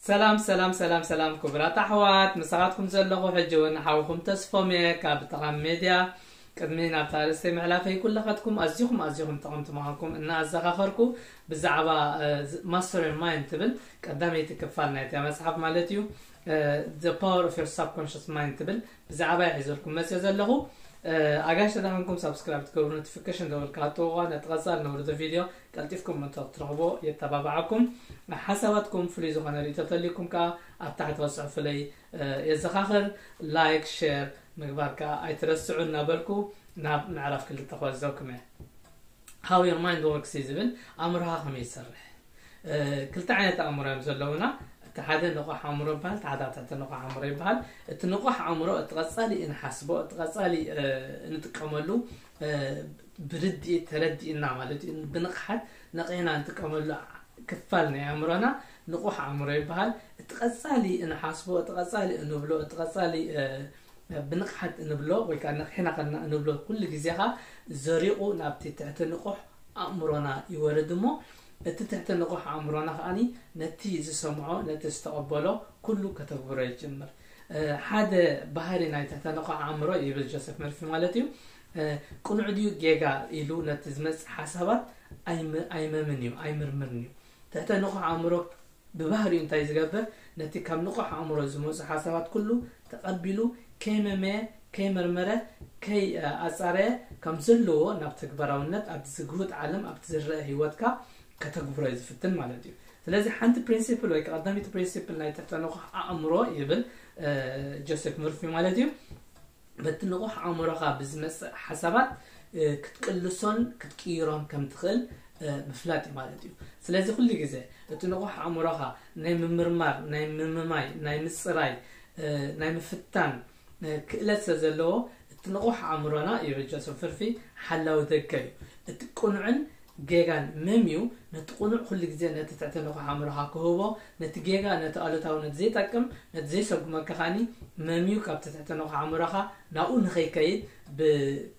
ሰላም ሰላም ሰላም ሰላም ክቡራት ኣሕዋት ምሳኻትኩም ዘለኹ ሕጂ እውን ሓውኹም ተስፎም እየ ካብ ጠቓሚ ሜድያ ቅድሚ ናብታ ርእስተይ ምዕላፈይ ኩላኻትኩም ኣዝኹም ኣዝኹም ጠቕምቲ ምዃንኩም እናኣዘኻኸርኩ ብዛዕባ ማስተር ማይንድ ትብል ቀዳመይቲ ክፋል ናይታ መፅሓፍ ማለት እዩ The power of your subconscious mind ትብል ብዛዕባያ ሒዘልኩም መጽየ ዘለኹ ኣጋሽ ተዳኸንኩም ሳብስክራይብ ትገብሩ ኖቲፊኬሽን ደወል ካሃጥቑዋ ነቲ ቀጻል ነውርዶ ቪድዮ ቀልጢፍኩም እንተ ክትረኽቦ የተባብዓኩም ሓሳባትኩም ፍሉይ ዝኾነ ርእቶ ተልይኩም ከዓ ኣብ ታሕቲ ክጽሕፉለይ የዘኻኽር ላይክ ሼር ምግባር ከዓ ኣይትረስዑ እናበልኩ ናብ ምዕራፍ ክልተ ክወዘኩም እየ How your mind works እዩ ዝብል ኣእምሮኻ ከመይ ዝሰርሕ ክልተ ዓይነት ኣእምሮ እዮም ዘለውና እቲ ሓደ ንቑሕ ኣእምሮ ይበሃል እቲ ሓደ ኣትሕቲ ንቑሕ ኣእምሮ ይበሃል እቲ ንቑሕ ኣእምሮ እቲ ቀፃሊ እንሓስቦ እቲ ቀፃሊ እንጥቀመሉ ብርድኢት ተረዲእና ማለት እዩ ብንቕሓት ነቒሕና እንጥቀመሉ ክፋል ናይ ኣእምሮና ንቑሕ ኣእምሮ ይበሃል እቲ ቀፃሊ እንሓስቦ እቲ ቀፃሊ እንብሎ እቲ ቀፃሊ ብንቕሓት እንብሎ ወይ ከኣ ነቒሕና ከለና እንብሎ ኩሉ ግዜ ከኣ ዘሪቑ ናብቲ ትሕተ ንቑሕ ኣእምሮና ይወርድ እሞ እቲ ትሕተ ንቑሕ ኣእምሮና ከኣ ነቲ ዝሰምዖ ነቲ ዝተቐበሎ ኩሉ ከተግብሮ ይጅምር ሓደ ባህሪ ናይ ትሕተ ንቑሕ ኣእምሮ ይብል ጆሴፍ መርፊ ማለት እዩ ቅኑዕ ድዩ ጌጋ ኢሉ ነቲ ዝመጽእ ሓሳባት ኣይመምን እዩ ኣይምርምርን እዩ ትሕተ ንቑሕ ኣእምሮ ብባህሪኡ እንታይ ዝገብር፣ ነቲ ካብ ንቑሕ ኣእምሮ ዝመጹ ሓሳባት ኩሉ ተቐቢሉ ከይመመየ፣ ከይመርመረ፣ ከይኣጻረየ ከም ዘለዎ ናብ ተግባራውነት ኣብቲ ዝግሁድ ዓለም ኣብቲ ዝረኣ ህይወትካ ከተግብሮ እዩ ዝፍትን ማለት እዩ። ስለዚ ሓንቲ ፕሪንሲፕል ወይ ቀዳመይቲ ፕሪንሲፕል ናይ ትሕተ ንቑሕ ኣእምሮ ይብል ጆሴፍ ሙርፊ ማለት እዩ፣ በቲ ንቑሕ ኣእምሮኻ ብዝመጽእ ሓሳባት ክትቅልሶን ክትቅይሮን ከም ትኽእል ምፍላጥ እዩ ማለት እዩ። ስለዚ ኩሉ ግዜ እቲ ንቑሕ ኣእምሮኻ ናይ ምምርማር፣ ናይ ምምማይ፣ ናይ ምጽራይ፣ ናይ ምፍታን ክእለት ስለ ዘለዎ እቲ ንቑሕ ኣእምሮና ይብል ጆሰፍ ፍርፊ ሓላዊ ደገ እዩ። እቲ ቅኑዕን ጌጋን መምዩ ነቲ ቅኑዕ ኩሉ ግዜ ነቲ ትሕቲ ንቑሕ ኣእምሮኻ ክህቦ ነቲ ጌጋ ነቲ ኣሉታዊ ነቲ ዘይጠቅም ነቲ ዘይሰጉመካ ከኣ መምዩ ካብቲ ትሕቲ ንቑሕ ኣእምሮኻ ናብኡ ንኸይከይድ ብ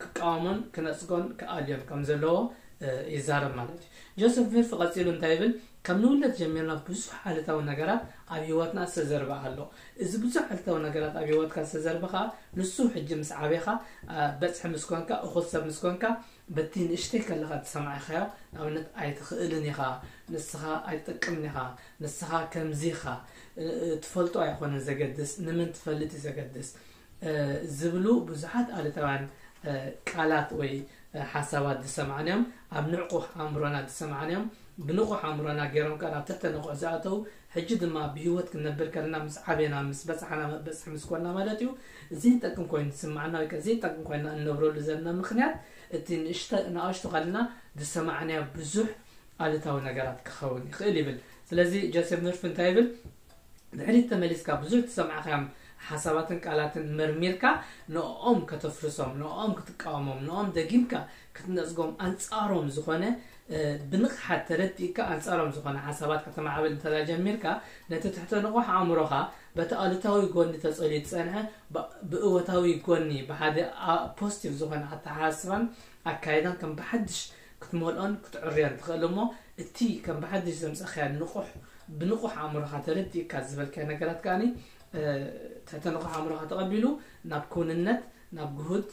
ክቃወሞን ክነጽጎን ክኣልዮን ከም ዘለዎ ይዛረብ ማለት እዩ። ጆሰፍ ቪርፍ ቐጺሉ እንታይ ይብል ካብ ንውለድ ጀሚርና ብዙሕ ኣሉታዊ ነገራት ኣብ ህይወትና ዝተዘርበ ኣሎ እዚ ብዙሕ ኣሉታዊ ነገራት ኣብ ህይወትካ ዝተዘርበ ከኣ ንሱ ሕጂ ምስ ዓቤኻ በጽሒ ምስ ኮንካ እኹል ሰብ ምስ ኮንካ በቲ ንእሽተይ ከለኻ እተሰማዒኻዮ ኣብነት ኣይትኽእልን ኢኻ፣ ንስኻ ኣይትጠቅምን ኢኻ፣ ንስኻ ከምዚ ኢኻ፣ እትፈልጦ ኣይኮነን ዘገድስ፣ ንመን ትፈልጥ እዩ ዘገድስ ዝብሉ ብዙሓት ኣሉታውያን ቃላት ወይ ሓሳባት ዝሰማዕና እዮም። ኣብ ንዕቁሕ ኣእምሮና ዝሰማዕና እዮም። ብንቑሕ ኣእምሮና ገይሮም ከኣ ናብ ትሕተ-ንቑሕ ዝኣተዉ ሕጂ ድማ ብህይወት ክንነብር ከለና ምስ ዓበና ምስ በጻሕና መበጽሒ ምስ ኮና ማለት እዩ ዘይጠቅም ኮይኑ ዝስምዓና ወይ ከኣ ዘይጠቅም ኮይና እንነብረሉ ዘለና ምኽንያት እቲ ንእሽተ ንኣሽቱ ከለና ዝሰማዕናዮ ብዙሕ ኣሉታዊ ነገራት ክኸውን ይኽእል ይብል ስለዚ ጀሴፍ ኑርፍ እንታይ ይብል ድሕሪት ተመሊስካ ብዙሕ ትሰምዕካዮም ሓሳባትን ቃላትን መርሚርካ ንኦም ከተፍርሶም ንኦም ክትቃወሞም ንኦም ደጊምካ ክትነጽጎም ኣንጻሮም ዝኾነ ብንቕሓት ተረዲእካ ኣንጻሮም ዝኾነ ሓሳባት ከተማዕብል እንተ ጀሚርካ ነቲ ትሕተ ንቑሕ ኣእምሮኻ በቲ ኣሉታዊ ጎኒ ተጸልዩ ዝጸንሐ ብእወታዊ ጎኒ ብሓደ ፖስቲቭ ዝኾነ ኣተሓሳስባን ኣካይዳን ከም ብሓድሽ ክትመልኦን ክትዕርዮን ትኽእል እሞ እቲ ከም ብሓድሽ ዘምጸኻዮ ንቑሕ ብንቑሕ ኣእምሮኻ ተረዲእካ ዝበልካዮ ነገራት ከኣ ትሕተ ንቑሕ ኣእምሮኻ ተቐቢሉ ናብ ክውንነት ናብ ግሁድ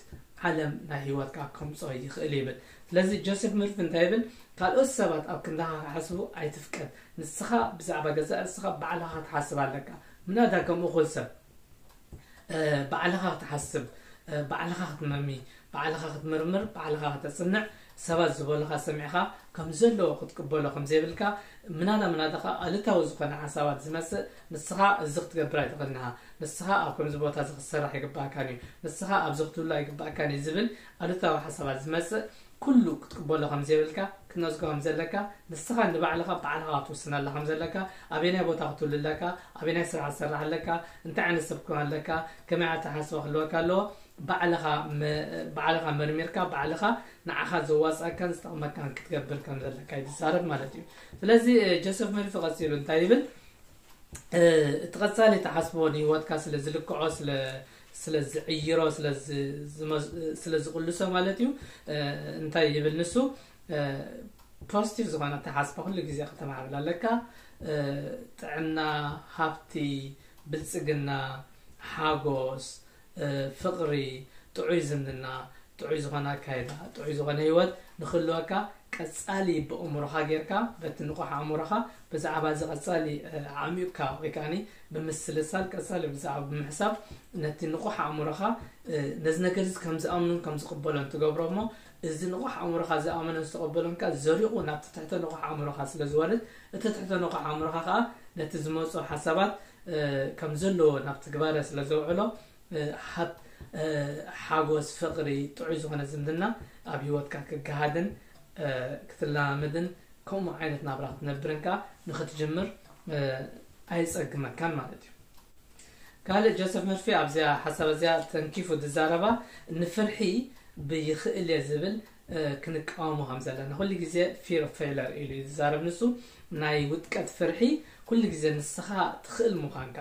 ዓለም ናይ ህይወትካ ከምጾ ይኽእል ይብል። ስለዚ ጆሴፍ ስሚርት እንታይ ይብል? ካልኦት ሰባት ኣብ ክንዳኻ ክሓስቡ ኣይትፍቀድ። ንስኻ ብዛዕባ ገዛእ ርእስኻ ባዕልኻ ክትሓስብ ኣለካ። ምናዳ ከም እኹል ሰብ ባዕልኻ ክትሓስብ፣ ባዕልኻ ክትመሚ፣ ባዕልኻ ክትምርምር፣ ባዕልኻ ከተጽንዕ፣ ሰባት ዝበሉኻ ሰሚዕኻ ከም ዘለዎ ክትቅበሎ ከም ዘይብልካ፣ ምናዳ ምናዳ ከኣ ኣሉታዊ ዝኾነ ሓሳባት ዝመጽእ ንስኻ እዚ ክትገብር ኣይትኽእልን ኢኻ፣ ንስኻ ኣብ ከምዚ ቦታ እዚ ክትሰርሕ ኣይግብኣካን እዩ፣ ንስኻ ኣብዚ ክትህሉ ኣይግብኣካን እዩ ዝብል ኣሉታዊ ሓሳባት ዝመጽእ ኩሉ ክትቅበሎ ከም ዘይብልካ ክትነጽጎ ከም ዘለካ ንስኻ ንባዕልኻ ባዕልኻ ክትውስነላ ከም ዘለካ ኣበየናይ ቦታ ክትህሉ ኣለካ ኣበየናይ ስራሕ ክትሰርሕ ኣለካ እንታይ ዓይነት ሰብ ክትኮን ኣለካ ከመይ ኣተሓሳስባ ክህልወካ ኣለዎ ባዕልኻ ባዕልኻ መርሚርካ ባዕልኻ ንዓኻ ዘዋጽኣካን ዝጠቕመካን ክትገብር ከም ዘለካ እዩ ዝዛረብ ማለት እዩ ስለዚ ጆሴፍ መሪፍ ቀጺሉ እንታይ ይብል እቲ ቀጻሊ ትሓስቦ ንህይወትካ ስለ ዝልክዖ ስለ ስለ ዝዕይሮ ስለ ስለ ዝቕልሶ ማለት እዩ እንታይ ይብል ንሱ ፖስቲቭ ዝኾነ ኣተሓስባ ኩሉ ግዜ ከተማዕብል ኣለካ ጥዕና ሃብቲ ብልጽግና ሓጎስ ፍቕሪ፣ ጥዑይ ዝምድና፣ ጥዑይ ዝኾነ ኣካይዳ፣ ጥዑይ ዝኾነ ህይወት ንኽህልወካ ቀጻሊ በእምሮኻ ጌርካ በቲ ንቑሕ ኣእምሮኻ ብዛዕባ እዚ ቀጻሊ ኣዕሚቕካ ወይ ከዓኒ ብምስልሳል ቀጻሊ ብዛዕባ ብምሕሳብ ነቲ ንቑሕ ኣእምሮኻ ነዚ ነገር እዚ ከም ዝኣምኑን ከም ዝቕበሎን ትገብሮ እሞ እዚ ንቑሕ ኣእምሮኻ ዝኣመኖን ዝተቐበሎን ቃል ዘሪቑ ናብቲ ትሕተ ንቑሕ ኣእምሮኻ ስለ ዝወርድ፣ እቲ ትሕተ ንቑሕ ኣእምሮኻ ኸኣ ነቲ ዝመጾ ሓሳባት ከም ዘለዎ ናብ ትግባረ ስለ ዘውዕሎ፣ ሃብ፣ ሓጎስ፣ ፍቕሪ፣ ጥዑይ ዝኾነ ዝምድና ኣብ ህይወትካ ክገሃድን ክትለማመድን ከምኡ ዓይነት ናብራ ክትነብርን ከኣ ንኽትጅምር ኣየጸግመካን ማለት እዩ። ካልእ ጆሰፍ መርፌ ኣብዚኣ ሓሳብ እዚኣ ተንኪፉ ዝዛረባ ንፍርሒ ብይኽእል እየ ዝብል ክንቃወሞ ከም ዘለና ኩሉ ግዜ ፊር ኦፍ ፌለር ኢሉ እዩ ዝዛረብ ንሱ ናይ ውጥቀት ፍርሒ ኩሉ ግዜ ንስኻ ትኽእል ምዃንካ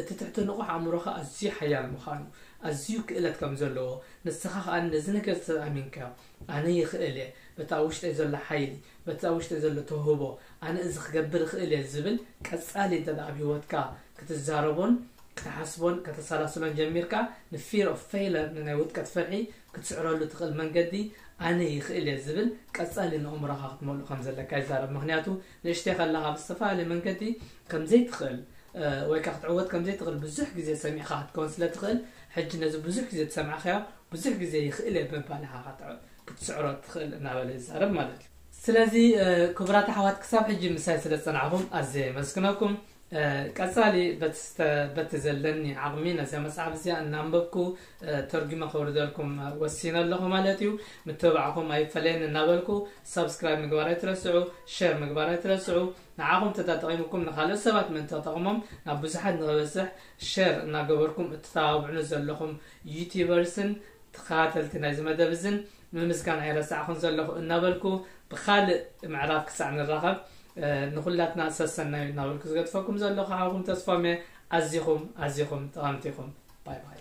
እቲ ትሕቲ ንቑሕ ኣእምሮኻ ኣዝዩ ሓያል ምዃኑ ኣዝዩ ክእለት ከም ዘለዎ ንስኻ ከኣ ነዚ ነገር ተኣሚንካዮ ኣነ ይኽእል እየ፣ በቲ ኣብ ውሽጠይ ዘሎ ሓይሊ፣ በቲ ኣብ ውሽጠይ ዘሎ ተውህቦ፣ ኣነ እዚ ክገብር እኽእል እየ ዝብል ቀጻሊ እንተ ኣብ ህይወትካ ክትዛረቦን ክትሓስቦን ከተሰላስሎን ጀሚርካ፣ ን'Fear of Failure ንናይ ውድቀት ፍርሒ ክትስዕረሉ እትኽእል መንገዲ ኣነ ይኽእል እየ ዝብል ቀጻሊ ንእእምሮኻ ክትመልኦ ከም ዘለካ ይዛረብ። ምኽንያቱ ንእሽተይ ከለኻ ብዝተፈላለየ መንገዲ ከም ዘይትኽእል ወይ ከኣ ክትዕወት ከም ዘይትኽእል ብዙሕ ግዜ ሰሚዕካ ክትከውን ስለ ትኽእል ሕጂ ነዚ ብዙሕ ግዜ ዝሰማዕካዮ ብዙሕ ግዜ ይኽእል'የ በባ ንዓኻ ክትስዕሮ ትኽእል እናበለ ይዛረብ ማለት እዩ። ስለዚ ክቡራት ኣሕዋት ክሳብ ሕጂ ምሳይ ስለ ዝጸናሕኩም ኣዝየ የመስግነኩም። ቀጻሊ በቲ ዘለኒ ዓቕሚ ነዛ መጽሓፍ እዚኣ እናንበብኩ ተርጒመ ከውርደልኩም ወሲነ ኣለኹ ማለት እዩ። ምትብባዕኩም ኣይፈለየኒ እናበልኩ ሳብስክራይብ ምግባር ኣይትረስዑ፣ ሸር ምግባር ኣይትረስዑ። ንዓኹም ተጠጠቒሙኩም ንኻልኦት ሰባት ምእንቲ ክጠቕሞም ናብ ብዙሓት ንኽበጽሕ ሸር እናገበርኩም እትተባብዑኒ ዘለኹም ዩቲበርስን ተኸታተልቲ ናይዚ መደብ እዝን ምምስጋን ኣይረሳዕኹን ዘለኹ እናበልኩ ብኻልእ ምዕራፍ ክሳዕ ንራኸብ ንኹላትና ሰሰናዩ እናበልኩ ዝገድፈኩም ዘለኹ ሓውኹም ተስፋሜ ኣዚኹም ኣዚኹም ጠቐምቲ ኢኹም ባይ ባይ